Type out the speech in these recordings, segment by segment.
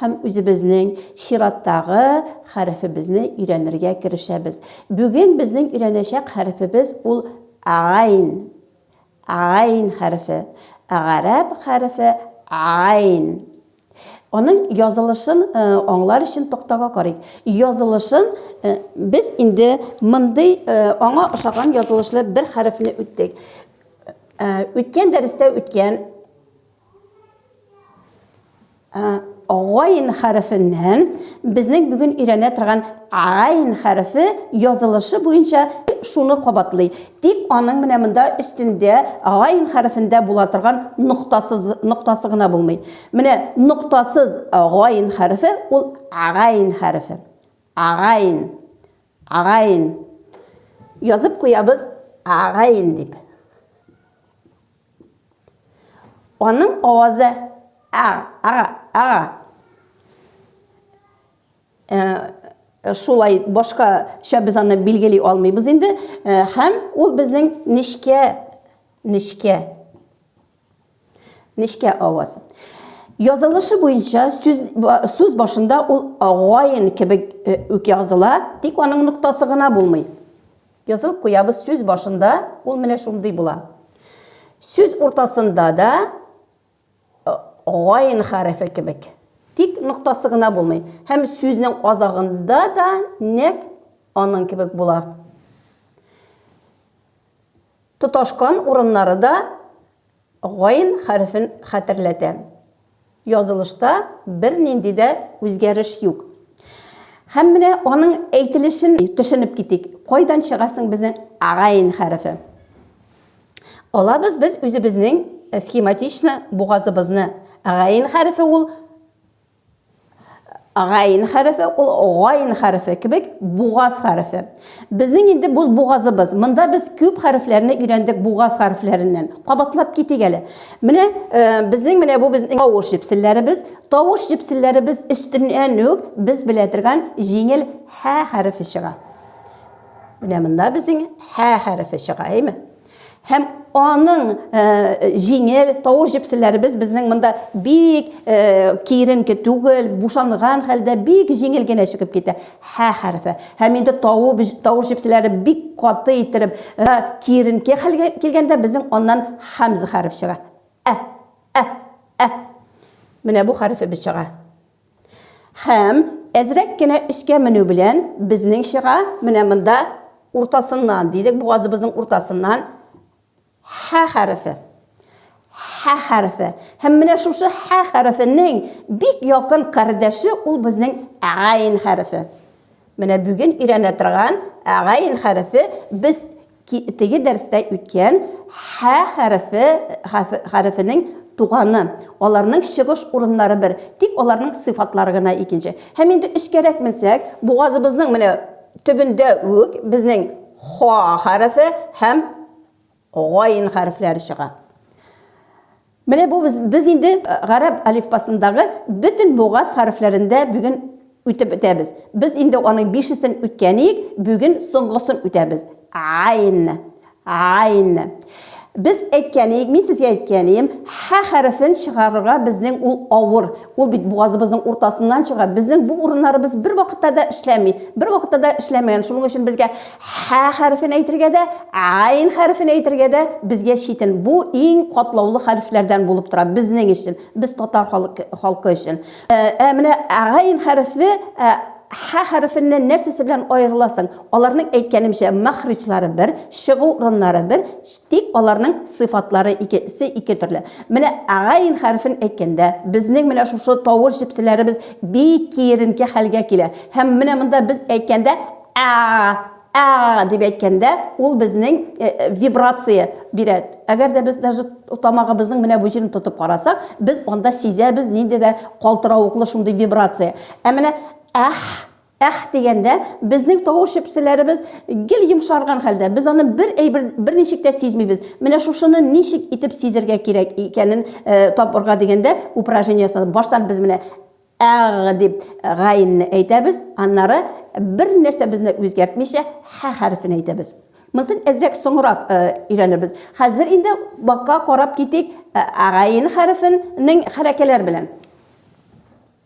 Һәм үзебезнең чираттагы хәрефебезне өйрәнергә керешәбез. Бүген безнең өйрәнәчәк хәрефебез ул гайн. Гайн хәрефе. Гарәп хәрефе гайн. Аның язылышын аңлар өчен токтага карыйк. Язылышын без инде мондый аңа ошаган язылышлы бер хәрефне үттек. Үткән дәрестә үткән Гайн хәрефеннән безнең бүген өйрәнә торган гайн хәрефе язылышы буенча шуны кабатлый. Тик аның менә монда өстендә гайн хәрефендә була торган ноктасыз ноктасы гына булмый. Менә ноктасыз гайн хәрефе ул гайн хәрефе. Гайн. Гайн. Язып куябыз гайн дип. Аның авазы ара, ара, ара. Э, шулай башкача без аны билгели алмыйбыз инде э, һәм ул безнең нечкә нечкә нечкә аваз язылышы буенча сүз сүз башында ул агайын кебек э, үк языла тик аның ноктасы гына булмый Язылып куябыз сүз башында, ул менә шундый була. Сүз уртасында да гайн хәрефе кебек. Тик ноктасы гына булмый. Һәм сүзнең азагында да нәк аның кебек була. Тоташкан урыннары да Гайн хәрефен хәтерләтә. Язылышта бернинди дә үзгәреш юк. Һәм менә аның әйтелешен төшенеп китик. Кайдан чыга соң безнең гайн хәрефе? Алабыз без үзебезнең схематичны бугазыбызны. Гайн хәрефе ул Гайн хәрефе ул гайн хәрефе кебек бугаз хәрефе. Безнең инде бу бугазыбыз. Монда без күп хәрефләрне өйрәндек бугаз хәрефләреннән. Кабатлап китик әле. Менә э, безнең менә бу безнең тавыш җепселләребез. Тавыш җепселләребез өстеннән үк без белә торган җиңел һә хәрефе чыга. Менә монда безнең һә хәрефе чыга, әйме? Һәм аның э, җиңел тавыш җепселләребез безнең монда бик э, киеренке түгел, бушанган хәлдә бик җиңел генә чыгып китә. Һә хәрефе. Һәм инде тавыш тавыш җепселләре бик каты иттереп, э, киеренке хәлгә килгәндә безнең аннан хамза хәреф чыга. Ә, ә, ә. Менә бу хәрефебез чыга. Һәм, әзрәк кенә өскә менү белән, безнең чыга, менә монда уртасыннан, дидек, бугазыбызның уртасыннан Һә хәрефе. Һә хәрефе. Һәм менә шушы Һә хәрефенең бик якын кардәше ул безнең Гайн хәрефе. Менә бүген өйрәнә торган Гайн хәрефе без Ки, теге дәрестә үткән һә хәрефе, хәрефенең туганы, аларның чыгыш урыннары бер, тик аларның сыйфатлары гына икенче. Һәм инде өскәрәк менсәк, бугазыбызның менә төбендә үк безнең ха хәрефе һәм гайн хәрефләре чыга. Менә бу без, без инде гарәп алифбасындагы бөтен бугаз хәрефләрендә бүген үтеп бетәбез. Без инде аның бишесен үткәник, бүген соңгысын үтәбез. Айн. Айн. Без әйткәник, мин сезгә әйткәнем, ха хәрефен чыгарырга безнең ул авыр. Ул бит бугазыбызның уртасыннан чыга. Безнең бу урыннарыбыз бер вакытта да эшләми. Бер вакытта да эшләмәгән. Шуның өчен безгә ха хәрефен әйтергә дә, айн хәрефен әйтергә дә безгә читен. Бу иң катлаулы хәрефләрдән булып тора безнең өчен, без татар халкы, халкы өчен. Ә, ә менә айн хәрефе ә, ха хәрефеннән нәрсәсе белән аерыласың? Аларның әйткәнемчә мәхриҗлары бер, чыгу урыннары бер, Тик аларның сыйфатлары ике се ике төрле. Менә гайн хәрефен әйткәндә, безнең менә шушы тавыш җепселәребез бик киеренке хәлгә килә. Һәм менә монда без әйткәндә, әа, әа дип әйткәндә, ул безнең вибрация бирә. Әгәр дә без даже тамагыбызның менә бу җирен тотып карасак, без анда сизәбез нинди дә калтыравыклы шундый вибрация. Ә менә әх, Әх дигәндә, безнең тавыш чепселәребез гел йомшарган хәлдә, без аны бер әйбер, берничек тә сизмибез. Менә шушыны ничек итеп сизергә кирәк икәнен табырга дигәндә, упражнение ясадым. Баштан без менә әгъ дип гаенне әйтәбез, аннары бернәрсә безне үзгәртмичә хә хәрефен әйтәбез. Монысын әзрәк соңрак өйрәнербез. Хәзер инде бакка карап китик гаен хәрефенең хәрәкәләр белән.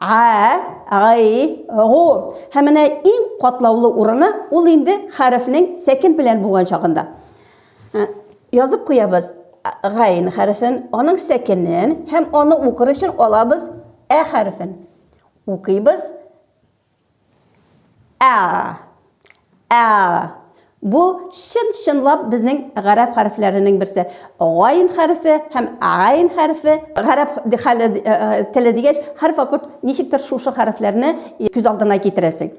Га, гай, гу. Һәм менә иң катлаулы урыны, ул инде хәрефнең сәкен белән булган чагында. Язып куябыз гайн хәрефен, аның сәкенен һәм аны укыр өчен алабыз ә хәрефен. Укыйбыз. Ә. Ә. Бу чын-чынлап безнең гарәп хәрефләренең берсе. Гайн хәрефе һәм гайн хәрефе гарәп хәле теле дигәч, һәрвакыт ничектер шушы хәрефләрне күз алдына китерәсең.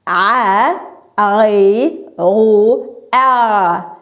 А, ай, у, а.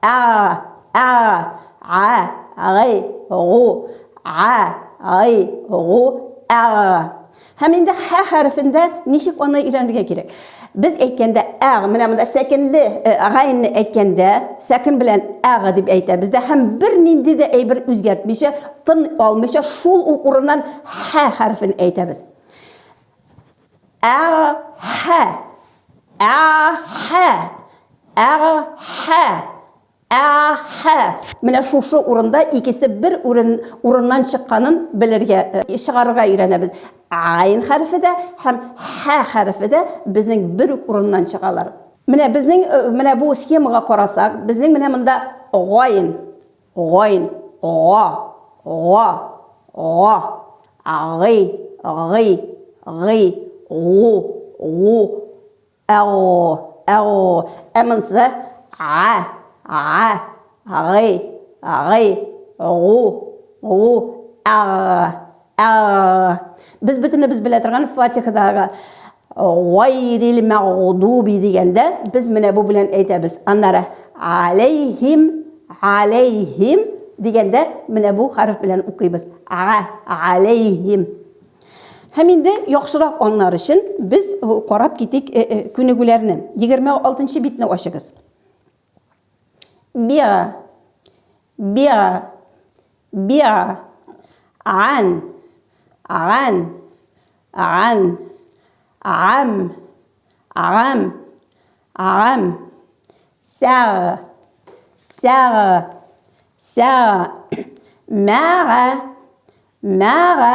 Ә, ә, ә, гый, гу, ә, гый, гу, ә. Һәм инде хә хәрефендә ничек аны өйрәнергә кирәк? Без әйткәндә ә, менә монда сәкенле э, гайнне әйткәндә, сәкен белән әг дип әйтәбез дә һәм бер нинди дә әйбер үзгәртмичә, тын алмыйча шул ук урыннан хә хәрефен әйтәбез. Әхә. Әхә. Әхә. Әхә. Менә шушы урында икесе бер урын урыннан чыкканын белергә э, чыгарырга өйрәнәбез. Айн хәрефе дә һәм хә хәрефе дә безнең бер үк урыннан чыгалар. Менә безнең э, менә бу схемага карасак, безнең менә монда гайн Гойн, го, го, го. Гый, гый, гый, гу, гу. Әу, әу. Ә монысы? Га, га, гый, гый, гу, гу. Әг, әг. Без бөтенебез белә торган Фатихадагы Гайрил мәгъдуби дигәндә, без менә бу белән әйтәбез. Аннары алейхим, алейхим дигәндә, менә бу хәреф белән укыйбыз. Ага, алейхим. Һәм инде яхшырак аннар өчен без карап китик э, э, күнегүләрне. 26 нчы битне ачыгыз. Биа. Биа. Биа. Ан. Ан. Ан. Ам. Ам. Ам. Сәг. Сәг. Сәг. Мәга. Мәга.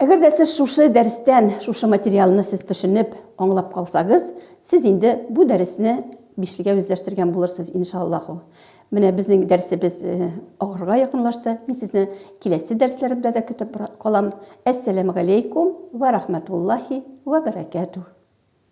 Әгәр дә сез шушы дәрестән, шушы материалны сез төшенеп, аңлап калсагыз, сез инде бу дәресне бишлегә үзләштергән булырсыз, иншаллаху. Менә безнең дәресебез э, агырга якынлашты. Мин сезне киләсе дәресләремдә дә көтеп калам. Әссәламу алейкум ва рахматуллахи ва баракатух.